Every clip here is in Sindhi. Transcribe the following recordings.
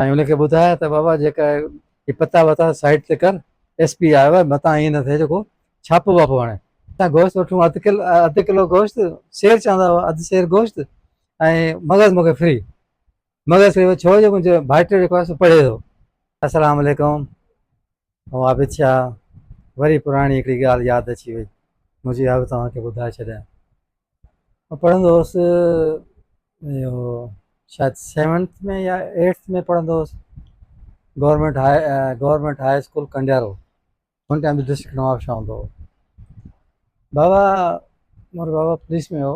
۽ ان کي ٻڌايا ته بابا جيڪا هي پتا وتا سائيڊ تي ڪر، ايس پي آيو آهي، متان ائين نه ٿئي جو ڪو ڇاپو واپو هڻي. اتان گوشت وٺون، اڌ ڪل اڌ ڪلو گوشت، سير چوندا هئا، اڌ سير گوشت ۽ مغز مون کي فري. مغز فري ڇو جو منهنجو ڀائٽيو جيڪو آهي سو پڙهي ٿو. السلام عليڪم. او عابد شاهه، وري پراڻي هڪڙي ڳالهه ياد اچي وئي، مون چيو اها به توهان کي ٻڌائي ڇڏيان. آء پڙهندو هوس، اهو شايد سيونٿ ۾ يا ايٽٿ ۾ پڙهندو هوس، government high government high school Kandiaro, هن ٽائيم به ڊسٽرڪٽ نوابشاهه هوندو هو. بابا مون وٽ بابا پوليس ۾ هو.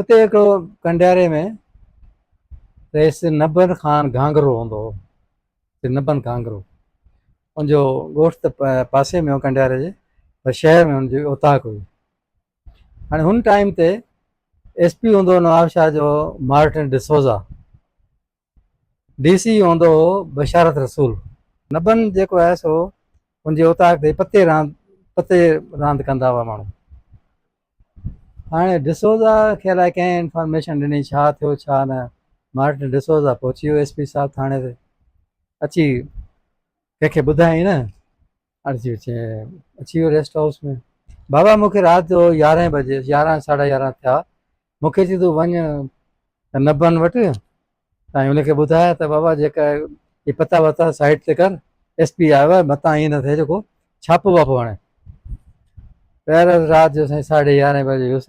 اتي هڪ ڪنڊياري ۾ رئيس نبن خان گهانگرو هوندو هو نبن گهانگرو ان جو ڳوٺ ته پاسي ۾ هو ڪنڊياري جي پر شهر ۾ ان جي اوطاق هئي هاڻي هن ٽائيم تي ايس پي هوندو هو نواب شاهه جو مارٽن ڊسوزا ڊي سي هوندو هو بشارت رسول. نبن جيڪو آهي سو ان جي اوطاق تي پتي راند پتي راند ڪندا هئا ماڻهو. هاڻي ڊسوزا کي الائي ڪنهن انفارميشن ڏني ڇا ٿيو ڇا نه مارٽن ڊسوزا پهچي ويو ايس پي صاحب ٿاڻي تي اچي ڪنهن کي ٻڌائين نه عرضي اچي اچي ويو ريسٽ هائوس ۾ بابا مون کي رات جو يارهن بجي يارهن ساڍا يارهن ٿيا مون کي چي تون وڃ نبن وٽ ۽ ان کي ٻڌايا ته بابا جيڪا هي پتا وتا سائيٽ تي ڪر ايس پي آيو آهي متان ائين نه ٿئي جيڪو ڇاپو واپو هڻي پهر رات جو سائين ساڍي يارهن بجي ويس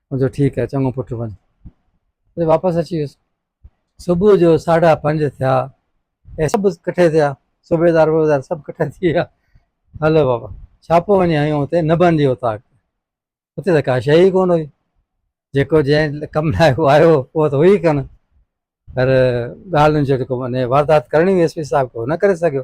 مون چيو ٺيڪ آهي چڱو پٽ وڃ. پوء واپس اچي ويس. صبح جو ساڍا پنج ٿيا ۽ سڀ ڪٺي ٿيا صوبيدار ووبيدار سڀ ڪٺا ٿي ويا هلو بابا ڇا پيو وڃي آيون اتي نه بندي اوطاق اتي ته ڪا شيء ئي ڪونه هئي جيڪو جنهن ڪم لاء هو آيو هو اهو ته هئي ڪونه پر ڳالهين جو جيڪو معنيٰ واردات ڪرڻي هئي ايس پي صاحب کي نه ڪري سگهيو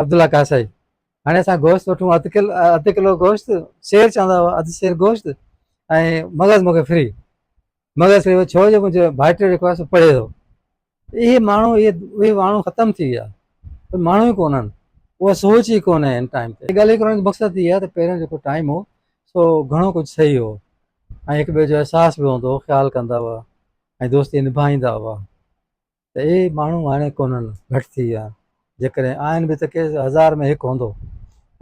عبدالله ڪاسائي هاڻي اسان گوشت وٺون اڌ ڪلو اڌ ڪلو گوشت سير چوندا هئا اڌ سير گوشت ۽ مغز مونکي فري مغز فري ڇو جو منهنجو ڀائٽي جيڪو آهي سو پڙهي ٿو اهي ماڻهو اهي اهي ماڻهو ختم ٿي ويا ماڻهو ئي ڪونهن اها سوچ ئي ڪونهي هن ٽائم تي ڳالهه ڪرڻ جو مقصد هي آهي ته پهريان جيڪو ٽائم هو سو گهڻو ڪجهه صحيح هو ۽ هڪ ٻئي جو احساس به هوندو هو خيال ڪندا هئا ۽ دوستي نڀائيندا هئا ته اهي ماڻهو هاڻي ڪونهن، گهٽ ٿي ويا آهن، جيڪڏهن آهن به ته ڪي هزار ۾ هڪ هوندو.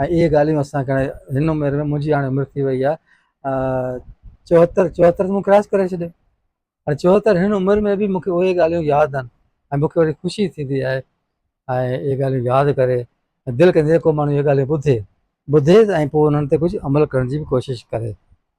۽ اهي ڳالهيون اسان کي هاڻي هن عمر ۾ منهنجي هاڻي عمر ٿي وئي آهي چوهتر چوهتر ته مون ڪراس ڪري ڇڏيو هاڻي چوهتر هن عمر ۾ به مون کي اهي ڳالهيون ياد آهن ۽ مون کي وري خوشي ٿيندي آهي ۽ اهي ڳالهيون ياد ڪري دل ڪندي ڪو ماڻهو اهي ڳالهيون ٻڌي ٻڌي ۽ پوء انهن تي ڪجهه عمل ڪرڻ جي به ڪوشش ڪري